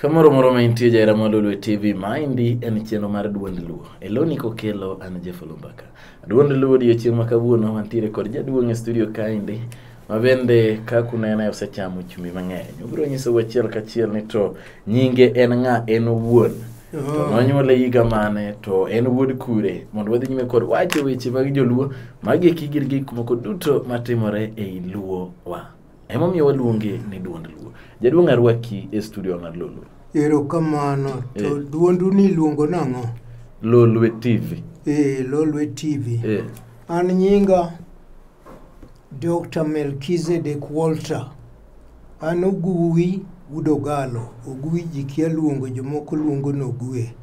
Kamoro moro ma intie jaera ma Lolwe TV, maendi en chenro mar Duond Luo. E loni kokelo an Jeff Olumbaka. Duond Luo odiechieng' ma kawuono wantiere kod jaduong' e studio kaendi ma bende ka kunene osechamo chumbi mang'eny. Obiro nyisou achiel kachiel ni to nyinge en ng'a en owuon. To nonyuole higa mane to en wuod kure mondo wadhi nyime kod wacho weche mag joluo magieki gin gik moko duto matimore ei luo wa. Emomiyo waluonge ni duond luo. Jaduong' arwaki e studio mar Lolwe. Erokamano. To Eh. duondu ni iluongo nang'o? Lolwe TV. Eh, Lolwe TV. Eh. An nyinga Dr. Melchizedek Walter. An Oguwi Udogalo. Oguwi ji kia luongo, jomoko luongo ni Ogwe.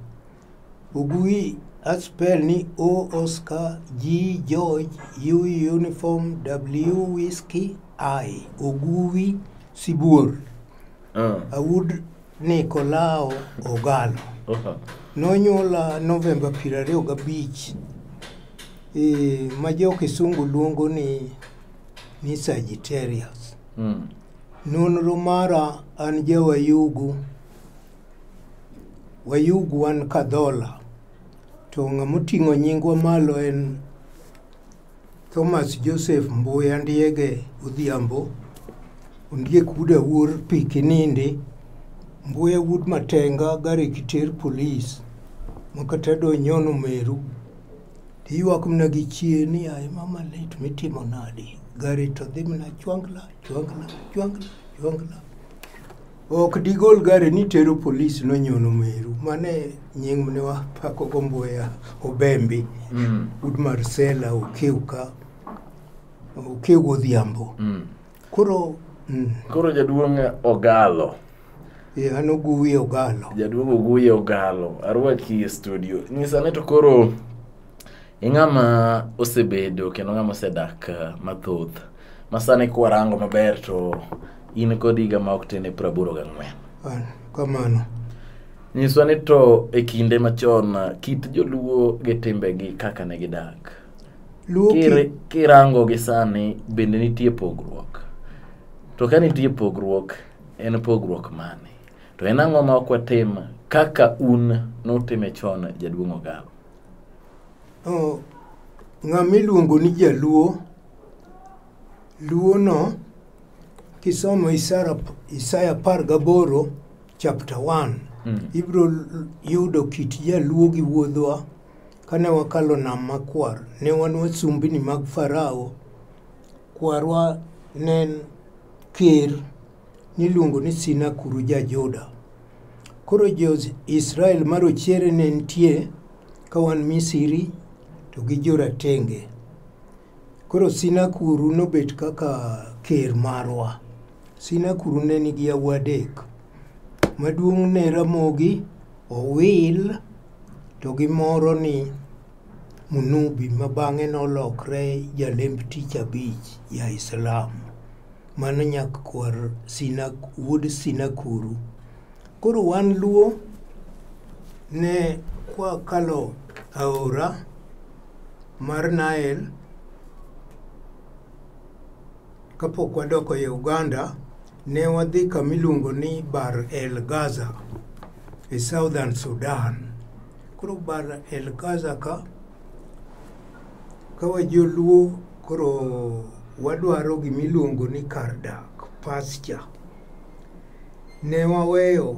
Ugui aspel ni O Oscar G George U Uniform W Whiskey I Oguwi Sibuor Ah, Awud Nikolao Ogalo oha. nonyuola Novemba piero ariyo gabich e, ma jo Kisungu luongo ni, ni Sagittarius. Mm. Nonro mara an jawayugu Wayug wan Kadhola, to ng'ama oting'o nyingwa malo en Thomas Joseph Mbuya Ndiege Odhiambo, Ondiek wuod Awuor pi Kinindi, Mbuya wuod Matenga gari Kiter Police, makata donyono Meru, tiyuak mana gi chie ni aye mama lit mitimo nadi, gari to dhi mana chwangla, chwangla, chwangla, chwangla. Ok digol gari ni tero polis nonyono meru mane nying mne wapako gomboya obembi mm. ud marsela okiuka okiu godhiambo mm. koro mm. koro jaduong ogalo yeah, an oguye ogalo jaduong oguye ogalo arwaki e studio nyisane to koro ing'ama osebedo kendo ng'ama osedak uh, mathoth Masani kwarango maber to in kod higa ma ok tin e piero aboro gang'wen. An, Kamano. Nyiswa ni to e kinde machon ah, kit joluo gi timbegi kaka ne gidak. Luo Kir- ki, Kirango gi sani bende nitie pogruok. To ka nitie pogruok, en pogruok mane? To en ang'o ma ok watim kaka un nutime chon jaduong' Ogalo? oh, ng'ama iluongo ni jaluo Luwono kisomo Isara, Isaya par gaboro chapter 1 Mm. ibiro l- yudo kit jaluo gi wuodhwa kane wakalo nam makwar ne wan wasumbini mag farao kwarwa ne en ker niluongo ni sinakuru ja juda koro jo-israel ma rochere ne nitie ka wan misiri to gi joratenge Koro Sinakuru nobet kaka ker marwa. Sinakuru ne nigi yawuoyi adek. Maduong' ne Ramogi, Owil to gi moro ni Munubi ma bang'e nolokre jalemb tich abich ja Islam. Mano nyak kwar Sina, wuod Sinakuru. Koro wan Luo ne kwakalo aora mar Nile kapok wadoko e Uganda ne wadhi kama iluongo ni Bar El Gaza e Southern Sudan. Koro Bar El Gaza ka ka wajoluo koro wadwaro gima iluongo ni kar dak pasture ne waweyo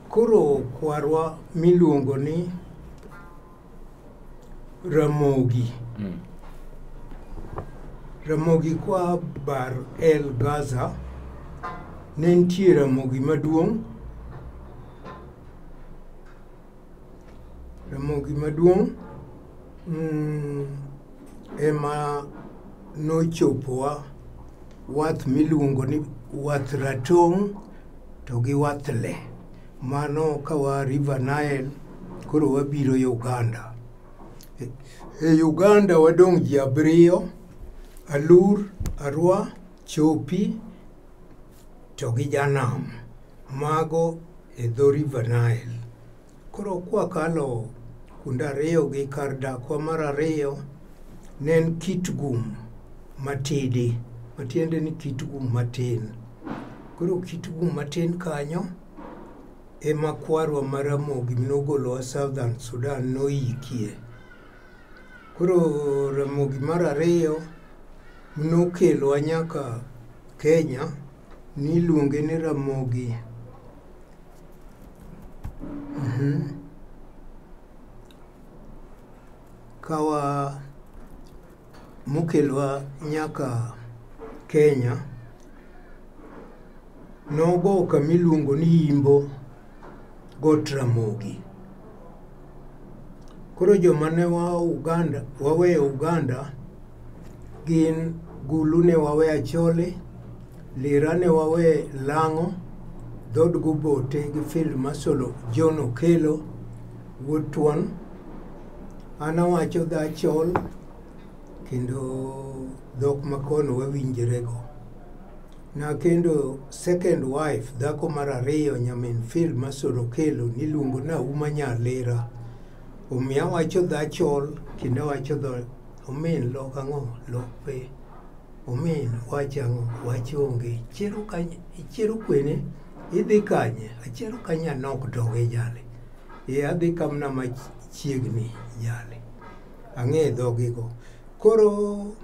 Koro kwarwa miluongo ni Ramogi. Mm. Ramogi kwa Bar El Gaza ne nitie Ramogi maduong' Ramogi maduong' mm, ema nochopowa wath miluongo ni wath ratong' To gi wathle mano kawa River Nile koro wabiro Uganda. E, e Uganda wadong' ji abiriyo, Alur, Arwa, Chopi to gi Janam. Mago e dho River Nile. Koro kwakalo kuonde ariyo gi kar dakwa mar ariyo ne en kit gum matidi matiende ni kit gum matin koro kit gum matin kanyo ema kwarwa ma Ramogi nogolowa Southern Sudan noyikie. Koro Ramogi mar ariyo nokelowa nyaka Kenya niluonge ni Ramogi Kawa mokelwa nyaka Kenya, nogo kama iluongo ni Imbo Got Ramogi. Koro joma ne wa Uganda, waweyo Uganda gin Gulu ne wawe Acholi, Lira ne wawe Lang'o, dhood Gubote gi Field Marshal John Okello wuod Tuon. An awacho dho Achol kendo dhok makono wawinjrego. Nakendo second wife, dhako mar ariyo, nyamin Phil Masoro Kelo, niluongo ni Auma Nyalera. Omiyo awacho dho Achol kendo awacho dho Omin lok ang'o? Lok pe. Omin wach ang'o? Wach onge. Ichiero kanye? Ichiero kwene? Idhi kanye? Achiero kanye anok doge jale. E adhi kamna machiegni jale. Ang'e dhogigo. Koro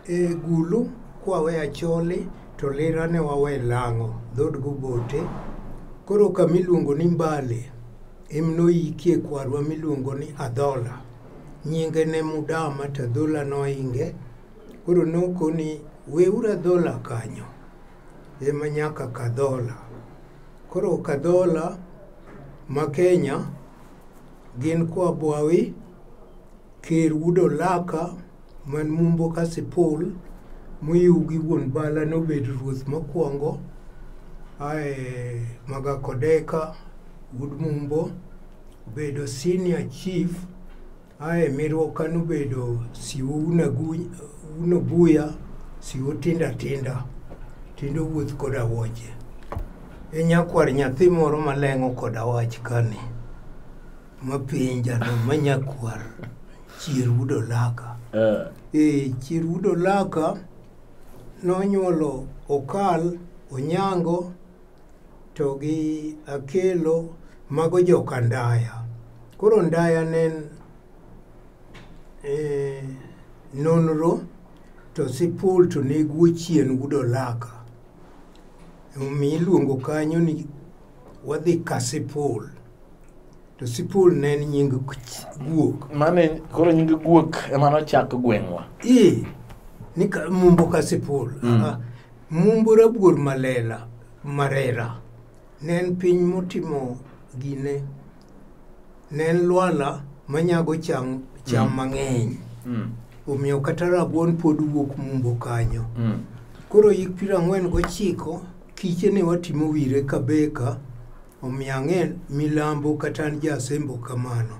E gulu kwawe acholi to lira ne wawe lang'o dhod gobote koro kama iluongo ni mbale em noyikie kwarwa miluongo ni adhola nyinge ne mudama to adhola noinge koro noko ni weuru adhola kanyo ema nyaka kadhola koro kadhola ma kenya gin kwa bwawi ker wuod olaka man mumbo ka sipul moyiw gi wuon bala nobed ruoth mokwongo ae magakodeka wuod mumbo obedo senior chief ae mirwoka nobedo siwo unobuya siwo tinda tinda tindo wuoth koda woche e nyakwar nyathi moro maleng'o koda wach kani mapenjano manyakwar chier wuod olaka Eh, e chier wuod olaka nonyuolo okal onyango to gi akelo mago joka ndaya koro ndaya ne en eh, nonro to sipul to neguo chien wuod olaka omiyo iluongo kanyo ni wadhi kasipul To Sipul ne en nying guok. Mane koro nying guok ema nochak gweng'wa. Ee, ni ka, mumbo ka Sipul. Mm. Ah, mumbo rabuor malela, marera. Ne en piny motimo gine. Ne en lwala manyago cham, cham mm. mang'eny. Mm. Omiyo kata rabuon pod wuok mumbo kanyo. Mm. Koro yik piero ang'wen gochiko, kiche ne watimo wire ka beka, Omiyo ang'e milambo kata an ja Asembo kamano.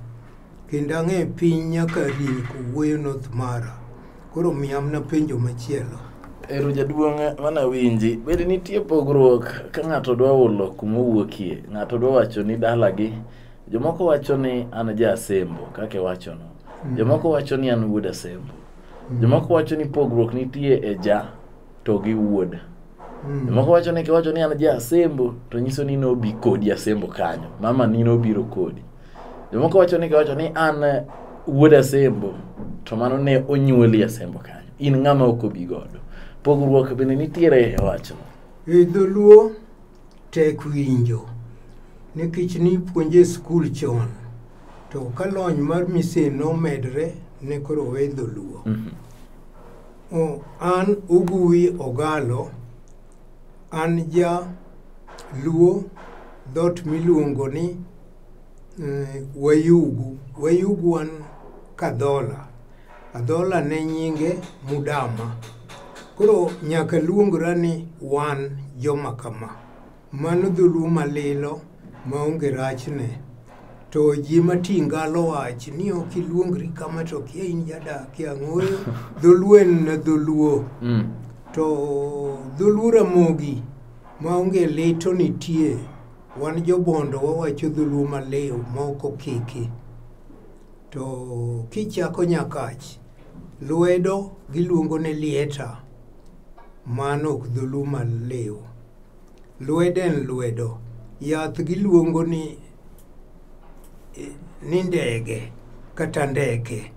Kendo ang'e piny nyaka rin kowuoyo North Mara. Koro miya mna penjo machielo. Ero jaduong' mana winji. Bende nitie pogruok ka ng'ato dwa hulo kuma owuokie. Ng'ato dwa wacho ni dalagi. Jomoko wacho ni an ja Asembo kaka iwachono. Jomoko wacho ni an wuod Asembo. Jomoko wacho ni pogruok nitie e ja. to gi wuod mm. moko wacho ni kiwacho ni an ja asembo to nyiso ni nobi kodi asembo kanyo mama ni nobiro kodi jomoko wacho ni kiwacho ni an eh, wuod asembo to mano ne onyuoli asembo kanyo in ng'ama ok obi godo pogruok bende nitiere e wachno e dholuo tek winjo nikech nipuonje skul chon to ka lony mar misin nomedre ne koro we dholuo mhm. an uguwi ogalo an ja luo dhot miluongo ni eh, wayugu wayugu an kadhola Adhola ne nyinge Mudama. Koro nyaka luongra ni wan joma kama. Mano dholuo malilo maonge rachne. To ji mati ngalo wach ni ok iluongri kama to kia in jadak e ang'oyo. Dholuo en na dholuo. Mm. To dholuo Ramogi maonge lito nitie. Wan jobondo wawacho dholuo maliw maok okiki. To kichako Nyakach, lwedo giluongo ni lieta, mano ok dholuo maliw. Lwedo en lwedo. Yath giluongo ni eh, ni ndege kata ndeke.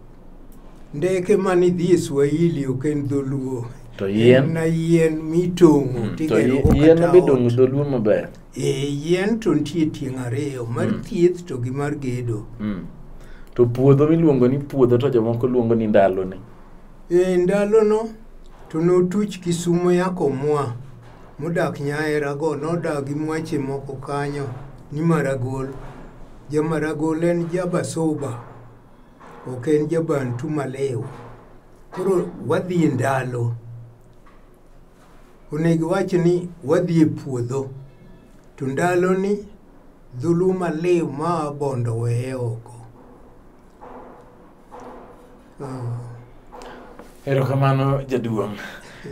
Ndeke mane idhi e Swahili ok en dholuo. To yien? En na yien mitong'o Mm, to tigero go yien kata be ot. dong' dholuo maber Eh, yien to nitie tieng' ariyo mar mm. thieth to gi mar gedo mm. to puodho miluongo ni puodho to jomoko luongo ni ndaloni e eh, ndalono to notuch kisumo yako mwa modak nyaerago nodagi mwache moko kanyo ni maragol jamaragol en jabasoba ok en jabantu malew koro wadhi e ndalo Onego wach ni wadhi e puodho to ndaloni dhuluma liw ma wabondo weye oko. Ah, Erokamano jaduong'.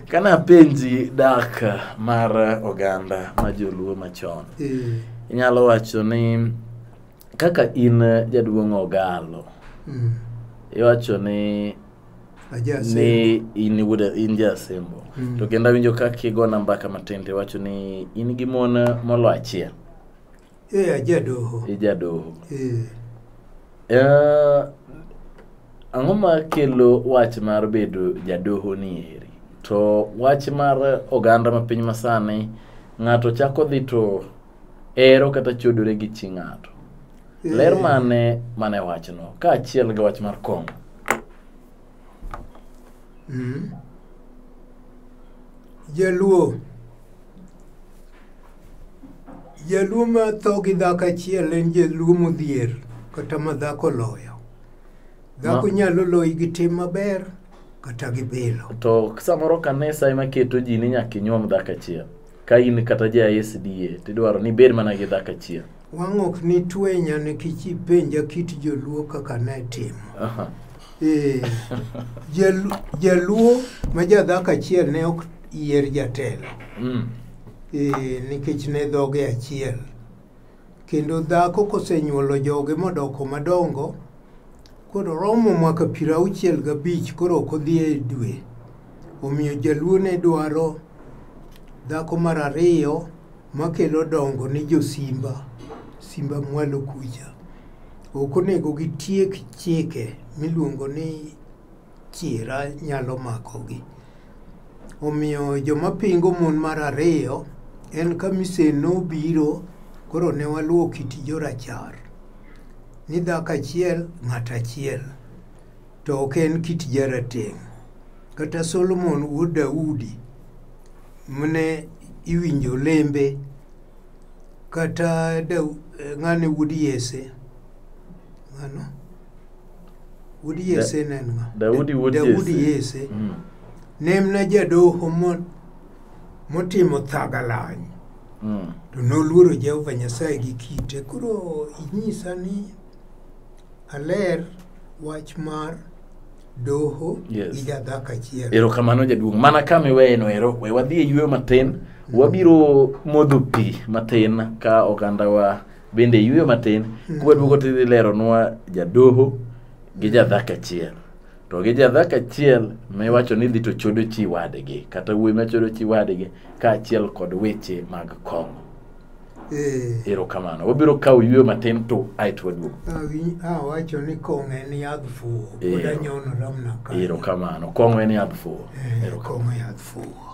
Kana penji dak mar oganda ma joluo machon. eh, Inyalo wacho ni kaka in jaduong' ogalo, mm. iwacho ni ni in wuda in jasembo mm. to kendo awinjo ka kigona mbaka matin to iwacho ni in gi mon molo achiel e eh, ajadoho ijadoho e. Eh. e, eh, ang'o ma kelo wach mar bedo jadoho ni eri to wach mar oganda ma piny masani ng'ato chako dhi to ero kata chodore gi chi ng'ato ler mane mane wachno kaachiel gi wach mar kong'o Mm. Jaluo. Jaluo ma tho gi dhako achiel en jaluo modhier kata ma dhako loyo. Dhako Ma- nyalo loyi gi tim maber kata gi bilo. to samoro kanisa ema keto ji ni nyaka inyuom dhako achiel ka in kata ja sda tidwaro ni bed mana gi dhako achiel wang' ok ni twenya nikech ipenja kit joluo kaka ne timo Aha. Eh, jalu- jaluo ma jadhako achiel ne ok yier jatelo Mm. Eh, nikech ne dhoge achiel Kendo dhako kosenyuolo joge modoko madongo, koro romo mwaka piero auchiel gabich koro ok odhi e dwe. Omiyo jaluo ne dwaro dhako mar ariyo makelo dongo ni josimba, simba mwalo kucha. Ok onego gitiek chike miluongo ni chiera nyalo makogi. Omiyo joma pingo mon mar ariyo en ka misen nobiro koro ne waluwo kit jorachar ni dhako achiel ng'at achiel to ok en kit jarateng'. Kata Solomon wuod Daudi mane iwinjo lembe kata Dau- eh, ng'ane wuod Yese ng'ano Wuod Yese ne en ng'a? Daudi wuod Daudi Jesse. Yese Mm. ne en na jadoho mo- motimo thagalany Mm. to noluoro Jehova Nyasaye gi kite. Koro inyisa ni aler wach mar doho Yes. gi jadhako achiel. erokamano jaduong' mana ka miweyeno ero we wadhi e yueyo matin wabiro modho pi matin ka ogandawa bende iyweyo matin mm. kwaduogo tidhi leronwa jadoho gi jadhak achiel to gi jadhak achiel miwacho ni dhi to chodo chi wadgi kata wuoyi machodo chi wadgi kaachiel kod weche mag kong'o eh. erokamano wabiro kawo yweyo matin to aeto waduogo awacho ni kong'o en yadh fuwo eh. erokamano kong'o en yadh fuwo eh, kong'o yadh fuwo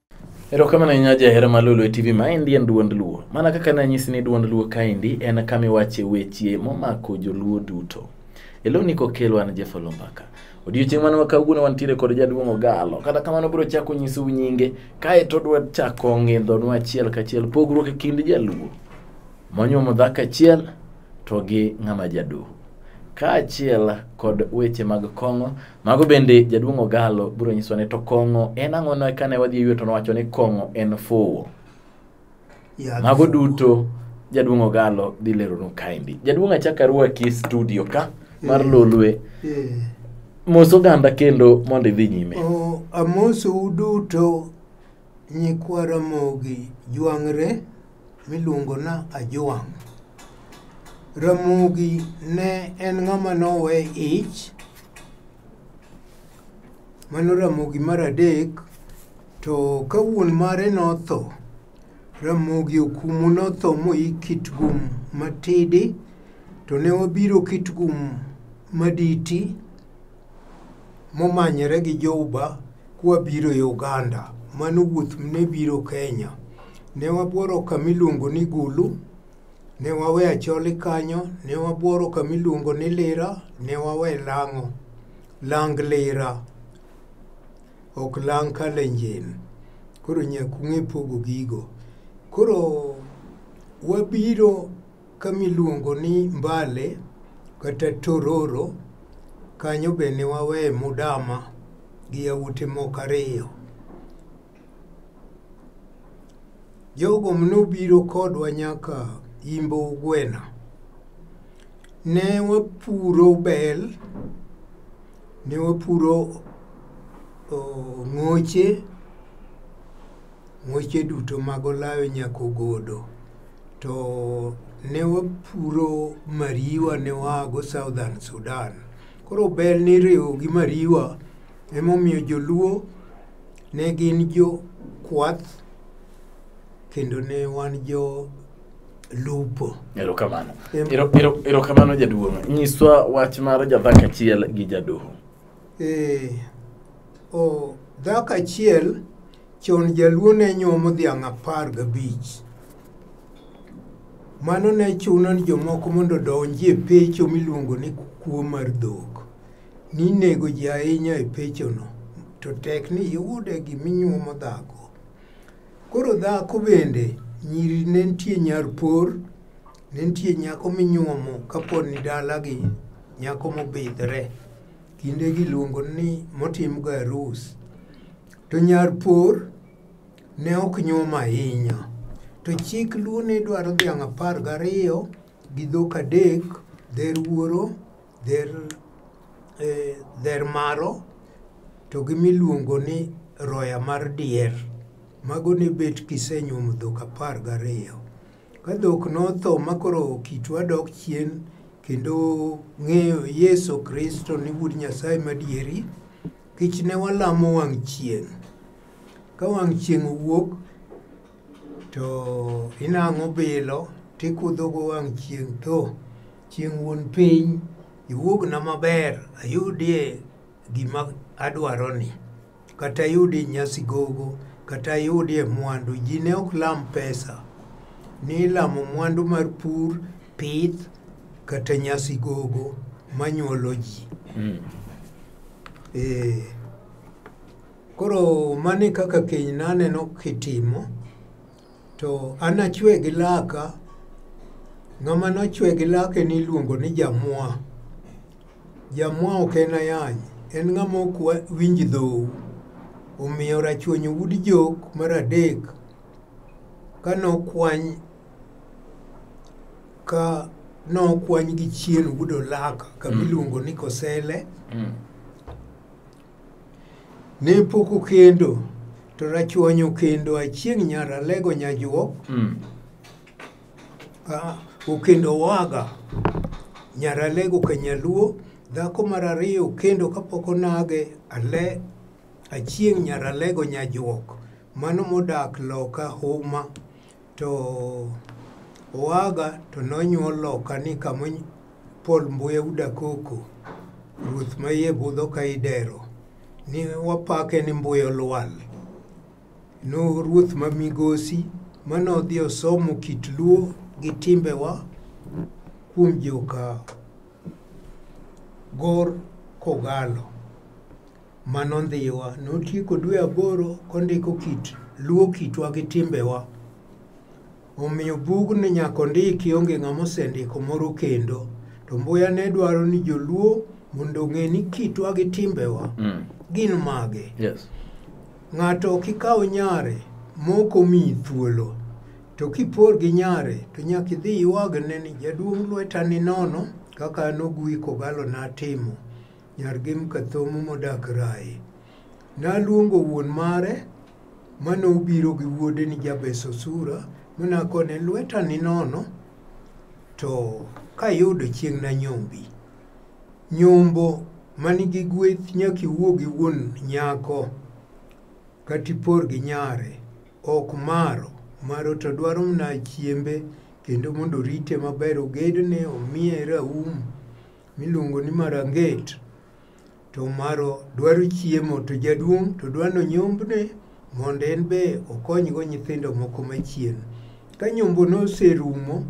Erokamano ahinya jahera ma Lulu e TV maendi en duond Luo. Mana kaka nanyisi ni duond Luo kaendi en kama iwache weche momako joluo duto. Elo ni kokelo an Jeff Olombaka. Odiochieng' mane wakawuono wantiere kod jaduong' Ogalo. Kata kamano biro chako nyisou nyinge kae to dwa chako ng'indhonwa achiel kachiel pogruok e kind jaluo monyuomo dhako achiel to gi ng'ama jadoho. Kaachiel kod weche mag kong'o Mago bende jaduong' Ogallo biro nyiso ne to kong'o en ang'o ne kane wadhi ywe to nowacho ni kong'o en fuwo. Yadh Mago fuwo. duto jaduong' Ogallo dhi leronu kaendi. Jaduong' achak arwaki e studio ka mar Mm. Lolwe. Eh. Mos oganda kendo mondo idhi nyime. O, amosou duto nyikwa Ramogi jwang're miluongo na Ajwang'. Ramogi ne en ng'ama nowe ich, mano Ramogi mar adek, to ka wuon mare notho, Ramogi Okumu notho moyik Kitgum Matidi, to ne wabiro Kitgum Maditi, momanyore gi Jouba kwabiro e Oganda. Mano wuoth ne biro Kenya. Ne wabworo kamiluongo ni Gulu, ne wawe Acholi kanyo, ne wabworo kamiluongo ni Lira, ne wawe Lang'o, Lang Lira, ok Lang Kalenjin. Koro nyaka ung'e pogo gigo. Koro wabiro kamiluongo ni Mbale kata Tororo kanyo be ne waweye Mudama gi yawuote moko ariyo. Jogo nobiro kodwa nyaka Imbo Ugwena. Ne wapuro bel, ne wapuro ng'oche Ng'weche duto mag olayo nyaka ogodo. To ne wapuro mariwa ne waago Southern Sudan. Koro bel niriwo gi mariwa emomiyo joluo ne gin jo kwath kendo ne wan jo lupo. Erokamano. Erokamano jaduong'. Nyiswa wach mar jadhako achiel gi jadoho. Eh, o dhako achiel chon jaluo ne nyuomo dhiang' apar gabich mano ne chuno ni jomoko mondo odonji e pecho miluongo ni kuo mar dhok ninego ji ahinya e pechono to tek ni iyude giminyuomo dhako koro dhako bende nyiri ne nitie nyar por Ne nitie nyako minyuomo kapo ni dalagi nyako mobidhre kinde giluongo ni motimgo arus to nyar por ne ok nyuom ahinya to chik luo ne dwaro dhiang' apar gariyo gi dhok adek dher wuoro dher eh, dher maro to gi miluongo ni roya mar dier mago ne bet kisenyuomo dhok apar gariyo Ka dhok notho ma koro kitwa dok chien kendo ng'eyo Yesu Kristo ni Wuod Nyasaye madieri, kech ne walamo wang' chieng'. Ka wang' chieng' owuok to inang'o bilo tikudhogo wang' chieng' to chieng' wuon piny iwuogna maber ayudie Gima adwaro ni kata yudi nyasi gogo kata yudie mwandu ji ne ok lam pesa ni ilamo mwandu mar pur pith kata nyasi gogo manyuolo ji mm. e, koro mani kaka keny naneno kitimo To anachwe gi laka, ng'ama nochwe gi lake niluongo ni jamwa. Jamwa ok en ayany, en ng'ama ok wa- winj dhou. Omiyo rachuonyo wud jok mar adek ka nokwany ka nokwany gi chien wudo laka kama Mm. iluongo ni kosele Mm. Ne pok okendo to rachuonyo kendo achieng' nyar alego nyajuok mm. okendo waga nyar alego ka nyaluo dhako mar ariyo okendo kapok onage ale achieng' nyar alego nyajuok mano modak loka huma to oaga to nonyuol loka ni kama Paul Mbuya Udakoko ruoth ma iye budho ka idero ni wapake ni Mbuya Olwal no ruoth ma migosi mane odhi osomo kit luo gi timbewa kuom joka gor kogalo Mano ndhiwa. Notieko dwe aboro kondiko kit luwo kitwa gi timbewa. Omiyo bugni nyaka ondiki onge ng'ama osendiko moro kendo. To Mbuya ne dwaro ni joluo mondo ong'e ni kitwa gi timbewa Mm. gin mage. Yes. Ng'ato ok ikaw nyare mok omiyi thuolo. To kipor gi nyare to nyaka idhi iwagne ni jaduong' lweta ni nono kaka an Oguyi Kogalo natimo. Nyar gi Mkathomo modak Rai. Naluongo wuon mare ma nobiro gi wuode ni Jabes Osura mi nakone lweta ni nono to kayudo chieng' nanyombi. Nyombo manigi gweth nyaka iwuo gi wuon nyako kata ipor gi nyare ok maro. Maro to dwaro mana chiembe kendo mondo orite maber, ogedne, omiye raum, miluongo ni maranget to maro dwaro chiemo to jaduong' to dwa nonyombne mondo en be okonygo nyithindo moko machien. Ka nyombo noserumo,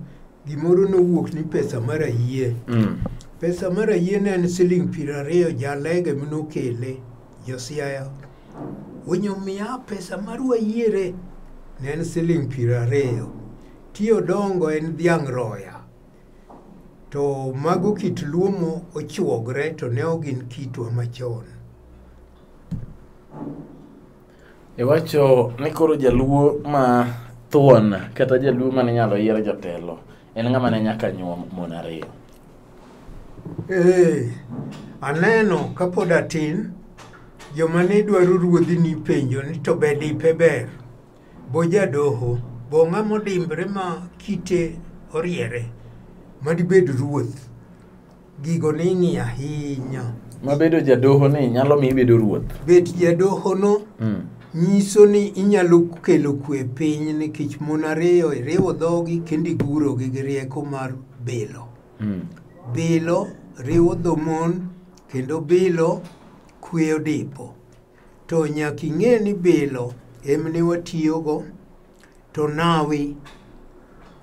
gimoro nowuok ni pesa mar ayie. Mm. Pesa mar ayie ne en siling' piero ariyo jalege minokele josiaya. Onyomiya pesa mar wayiere ne en siling' piero ariyo. Ti odongo en dhiang' roya. To mago kit luo mo ochuogre to ne ok gin kitwa machon. Iwacho ni koro jaluo ma thuon kata jaluo mane inyalo yier jatelo en ng'ama ne nyaka nyuom mon ariyo. Ee, aneno kapod atin joma ne dwaro ruodhi nipenjo ni to be dipe ber? Bo jadoho, bo ng'ama odimbre ma kite oriere ma dibed ruoth. Gigo ning'i ahinya. Ma bedo jadoho ni nyalo mi ibedo ruoth. Bet jadoho no mm. nyiso ni inyalo kelo kwe piny nikech mon ariyo iriwo dhogi kendo igurogi gi rieko mar bilo. Mm. Bilo riwo dho mon kendo bilo kweyo dipo. to nyaka ing'e ni bilo emne watiyogo to nawi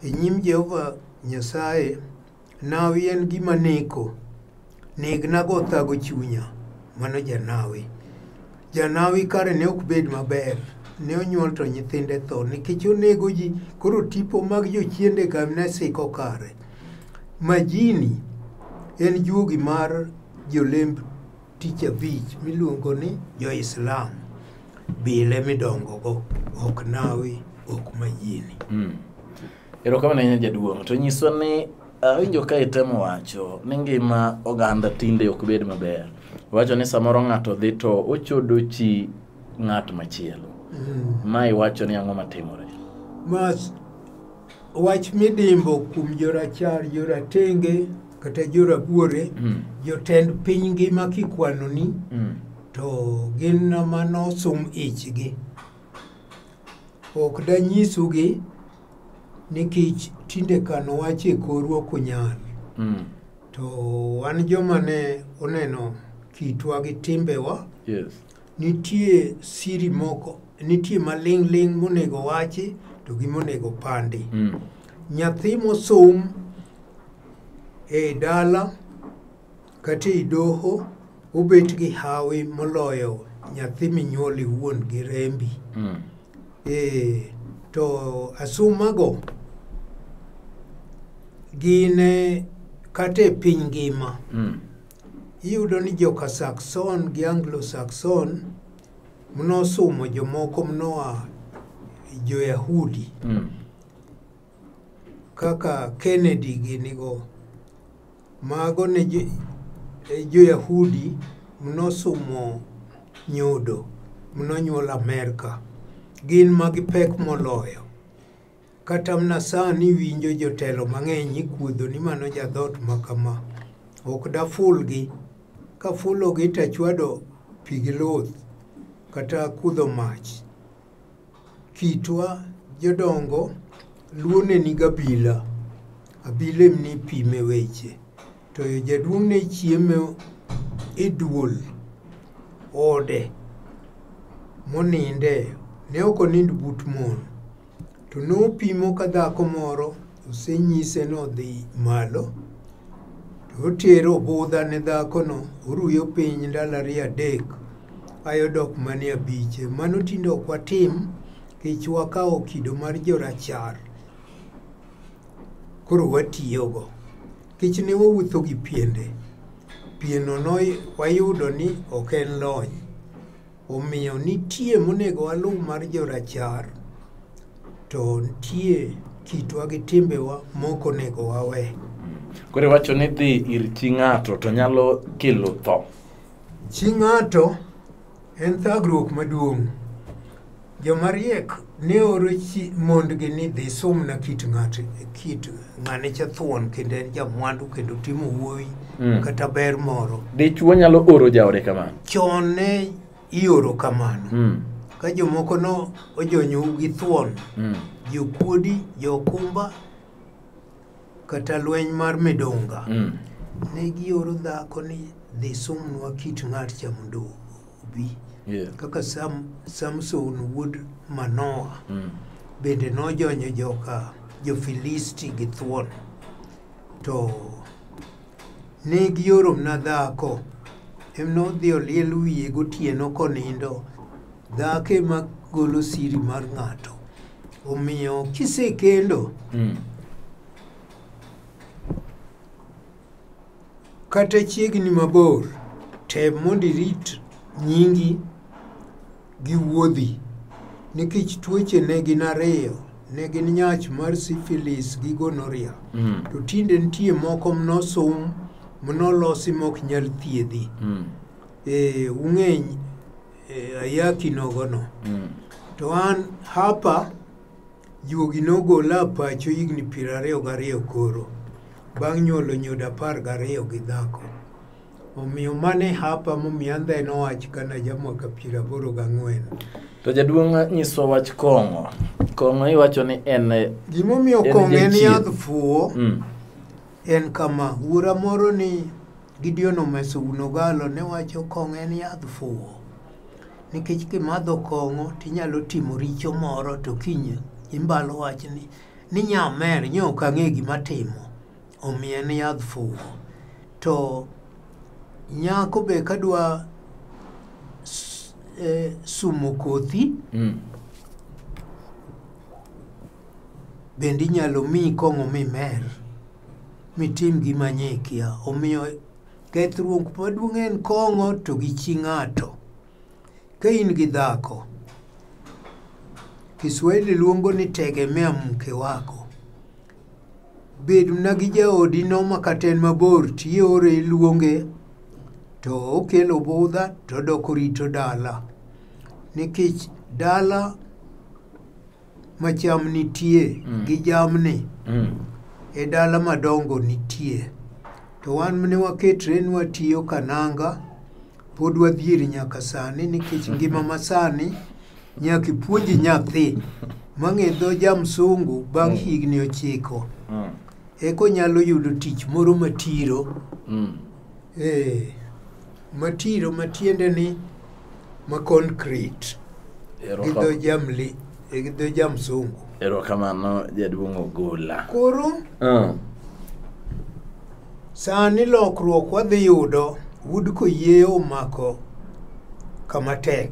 e nyim Jehova Nyasaye nawi en gima neko negna go thago chunya mano janawi janawi kare ne ok bed maber ne onyuol to nyithinde tho nikech onego ji koro tipo mag jochiende ka ne siko kare majini en juogi mar jolemb tich abich miluongo ni jo-islam bile midongogo ok nawi ok mayieni Mm. Erokamano ahinya jaduong'. To nyiswa ni awinjo ka itemo wacho ni ngima oganda tinde ok bed maber. Wacho ni samoro ng'ato dhi to ochodo chi ng'at machielo. Mm. Ma iwacho ni ang'o matimore? ma Wach midimbo kuom jorachar, joratenge kata jorabuore, mm. jotend piny ngima kikwanoni mm. to gin nama nosum ichgi. Ok danyisugi nikech tinde kano wach e korwa ok onyal. Mm. To wan joma ne oneno kitwa gi timbewa yes. Nitie siri moko, nitie maling' ling' monego wachi to gi monego pandi. Mm. Nyathi mosom e dala kata e doho obet gi hawi moloyo nyathi minyuol iwuon gi rembi. Mm. E, to asumago gin e, kata e piny ngima. Mm. Iyudo ni joka Saxon gi Anglo-Saxon mnosumo jomoko mnoa jo-Yahudi Mm. kaka Kennedy ginigo. Mago ne jo- e jo-Yahudi mnosumo nyodo mnonyuol Amerka. Gin ma gipek moloyo. Kata mna sani winjo jotelo mang'eny ikuodho ni mano jadhot ma kama. Ok dafulgi. Kafulogi to achwado pi gi luth kata kudho mach. Kitwa jodongo luo ne niga bila. Abila em nipime weche. To jaduong' ne chiemo e duol ode moninde. Ne ok onind but mon. To nopimo ka dhako moro osenyise ni odhi malo, to otero obudha ne dhakono, oruyo piny ndalo ariyo adek, aye odok mana e abiche. Mano tinde ok watim, nikech wakawo kido mar jorachar, koro watiyogo. Nikech ne wawuotho gi piende, pienno ne wayudo ni ok en lony, Omiyo nitie monego waluw mar jorachar to nitie kitwa gi timbewa moko onego wawe. Koro iwacho ni dhi ir chi ng'ato to nyalo kelo tho. Chi ng'ato en thagruok maduong'. Joma riek ne oro chi mondgi ni dhi sumna kit ng'ate kit ng'ane cha thuon kendo en jamwandu kendo timo wuoyi Mm. kata ber moro. Dichwo nyalo oro jaode kamano. Chon ne ioro kamano Mm. ka jomoko no ojonyou gi thuon Mm. jokuodi jokumba kata lweny mar midunga mm. ne gioro dhako ni dhi sumnwa kit ng'at cha mondo obi yeah. kaka Sam, samson wuod manoa mm. bende nojonyo joka jofilisti gi thuon to ne gioromna dhako em nodhi oliel wiye gotieno konindo dhako ema golo siri mar ng'ato omiyo kisekendo mm. kata chiegni mabor tem mondo irit nyingi gi wuodhi nikech tuoche ne gin ariyo ne gin nyach mar syphilis gi gonorrhea mm. to tinde nitie moko mnosum mnolosi mok nyal thiedhi mm. e, ung'eny e, ayaki nogono mm. to an hapa juogi nogola pacho higni piero ariyo gariyo koro bang' nyuolo nyodo apar gariyo gi dhako omiyo mane hapa momiyo andha en owach kana jamwaka piero aboro gang'wen to jaduong' nyiso wach kong'o kong'o iwacho ni en gimomiyo kong'o en yadh fuwo mm. en kama wuora moro ni Gideon Omeso Unogalo ne wacho kong'o en yadh fuwo. Nikech kimadho kong'o to inyalo timo richo moro to kiny imbalo wachni ni nyamer nyo ok ang'e gima timo omiyo en yadh fuwo. To nyako be kadwa s- eh, sumo kothi Mm. bende inyalo miyi kong'o mimer. mitim gima nye ikia. Omiyo kethruok maduong' en kong'o to gi chi ng'ato. Ka in gi dhako, Kiswahili luongo ni tegemea mke wako. Bedna gi jaodi no ma kata en mabor tiore iluonge to okelo budha to odok orito dala. Nikech dala ma cham nitie mm. gi jamni mm. e dala madongo nitie to wan mne waketre ni watiyo kananga pod wadhieri nyaka sani nikech ngima ma sani nyaka ipuonji nyathi mang'e dho jamsungu bang' mm. higni ochiko mm. eko nyalo yudo tich moro matiro mm. eh, matiro matiende ni ma concrete gi dho jamli eh, gi dho jamsungu erokamano jaduong' ogola koro Ah, sani lokruok wadhi yudo wood koyieyo omako kama tek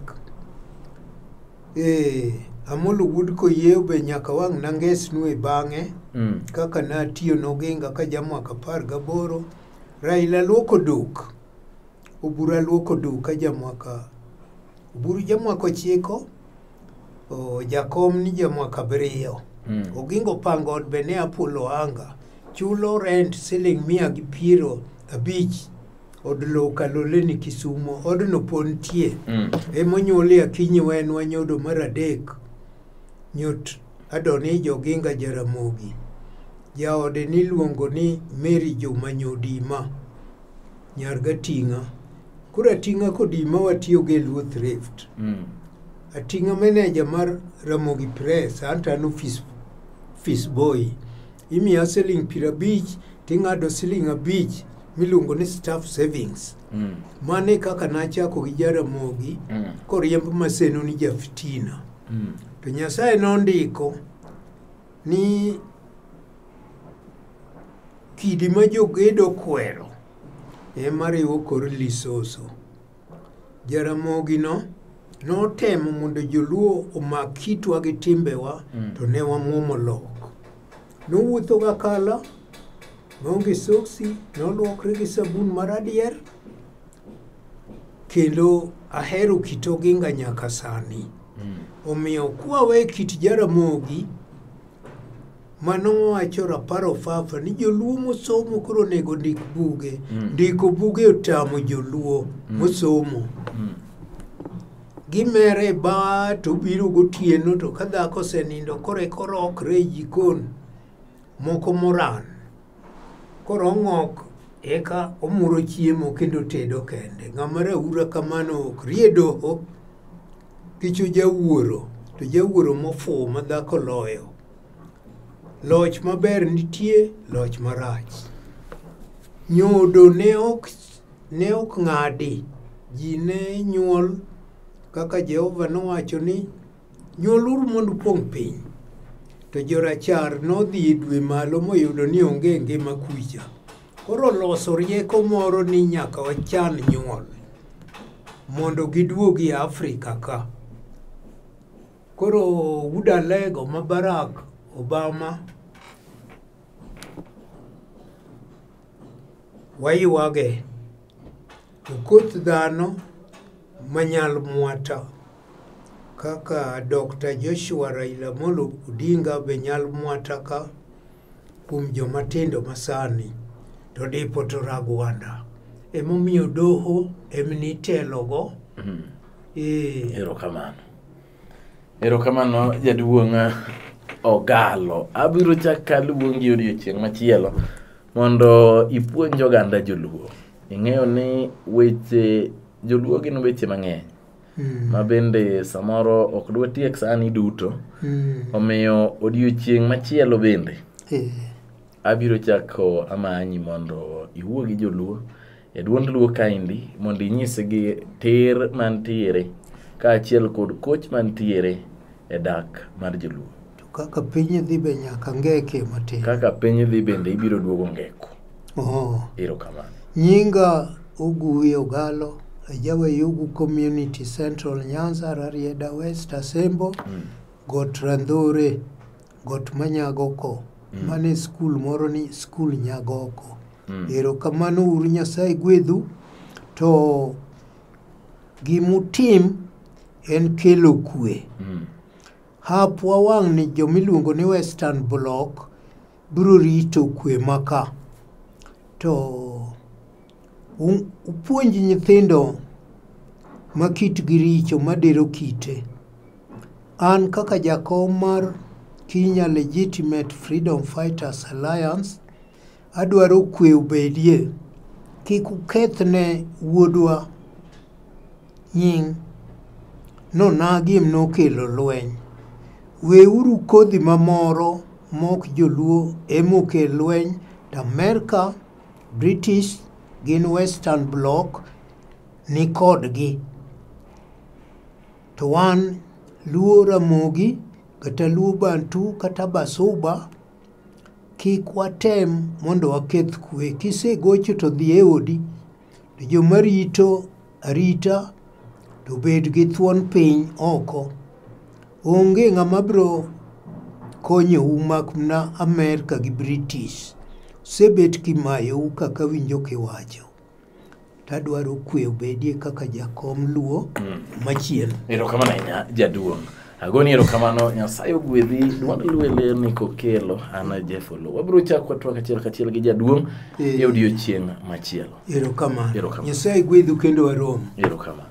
ee amolo wood koyieyo be nyaka wang' nangesnue bang'e mm, kaka natiyo noginga ka jamwaka apar gaboro raila luoko duk Oburu aluoko duka jamwaka oburu jamwaka ochiko o, jakom ni jamwaka abiriyo Mm. ogingo pango od be ne apulo anga chulo rent siling mia gi piero abich od lowo kalole ni kisumo odno pod nitie Mm. emonyuolie akinyi wen wanyodo mar adek nyot adoni joginga jaramogi jaode niluongo ni mary joma nyodima Nyar Gating'a. Koro Ating'a kodi ma watiyogo e Luo Thrift. Mm. Ating'a meneja mar Ramogi Press, anto an ofis, ofis boy. Imiya siling piero abich, ting'ado siling abich miluongo ni staff savings. Mm. Mano e kaka nachako gi Jaramogi Mm. koriemb maseno ni Jafitina. Mm. To Nyasaye nondiko ni kidi ma jogedo kwero ema riwo kor lisoso. Jaramogino notemo mondo joluo omak kitwa gi timbewa mm. to ne wamwomo lok. Nowuotho ga kala, noonge soksi, noluokre gi sabun mar adier, kendo ahero kit oginga nyaka sani. Mm. Omiyo kwawe kit jaramogi, Mano mowacho rapar ofafa ni joluo mosomo koro onego ndik buge. Mm. Ndiko buge otamo joluo mm. mosomo. Mm. Gimere ba to biro gotieno to ka dhako osenindo koro e koro okre e jikon moko moran. Koro ong'ok eka omuro chiemo kendo tedo kende. Ng'ama raura kamano ok rie doho kicho jawuoro to jawuoro mofuwo ma dhako loyo. Loch maber nitie, loch marach. Nyodo ne ok ne ok ng'adi. Ji ne nyuol kaka Jehova nowacho ni nyuoluru mondo upong' piny. To jorachar nodhi e dwe malo moyudo ni onge ngima kucha. Koro loso rieko moro ni nyaka wachan nyuol mondo giduogi e Afrika ka. Koro wuda lego ma Barack Obama waywage to koth dhano manyal mwata kaka Dr. Joshua Raila Molo Odinga be nyal mwata ka kuom joma tindo masani to dipo to Ragwanda emomiyo doho emni telogo. Mm. Erokamano. Erokamano jaduong' Ogalo. Abiro chak kaluongi odiochieng' machielo mondo ipuonj oganda joluo. Ing'eyo ni weche joluo gin weche mang'eny ma bende samoro ok dwatiek sani duto omiyo odiochieng' machielo bende abiro chako amanyi mondo iwuo gi joluo e duond luo kaendi mondo inyisgi ter mantiere kaachiel kod koch mantiere e dak mar joluo To kaka piny dhi be nyaka ngeke matin. kaka piny dhi bende ibiro duogo ngeko Oh. ero kamano Nyinga Oguwi Ogalo, ajawa Yugu Community Central Nyanza, Rarieda West, Asembo, Got Randhore, Got ma Nyagoko. Mm. Mane skul moro ni skul Nyagoko. Mm. Erokamano uru Nyasaye gwedhu to gimutim en kelo kwe. Mm. Hap wawang' ni jomiluongo ni Western Block biro rito kwe maka. To U- Upuonj nyithindo ma kitgi richo madiro kite. An kaka jakom mar Kenya Legitimate Freedom Fighters Alliance, adwaro kwe obedie. Kik uketh ne wuodwa nying' nonagi em nokelo lweny. Weuru kodhi mamoro mok joluo emokel lweny to Amerka British gin western block ni kodgi to wan luo ramogi kata luo bantu kata basuba kik watem mondo waketh kwe kisegocho to dhi e odi to joma rito arita to bed gi thuon piny oko. Onge ng'ama bro konyou mak mna Amerka gi British. Usebet kimayou kaka winjo kiwacho. Tadwaro kwe obedie kaka jakom Luo machielo. Erokamano ahinya jaduong'. Agoni erokamano Nyasaye ogwedhi Dwanda Luo e ler ni kokelo Ana Jefolo. Wabiro chako watwak achiel kachiel gi jaduong' Eh. e odiechieng' machielo. Erokamano. Erokamano. Nyasaye gwedhu kendo warom. Erokamano.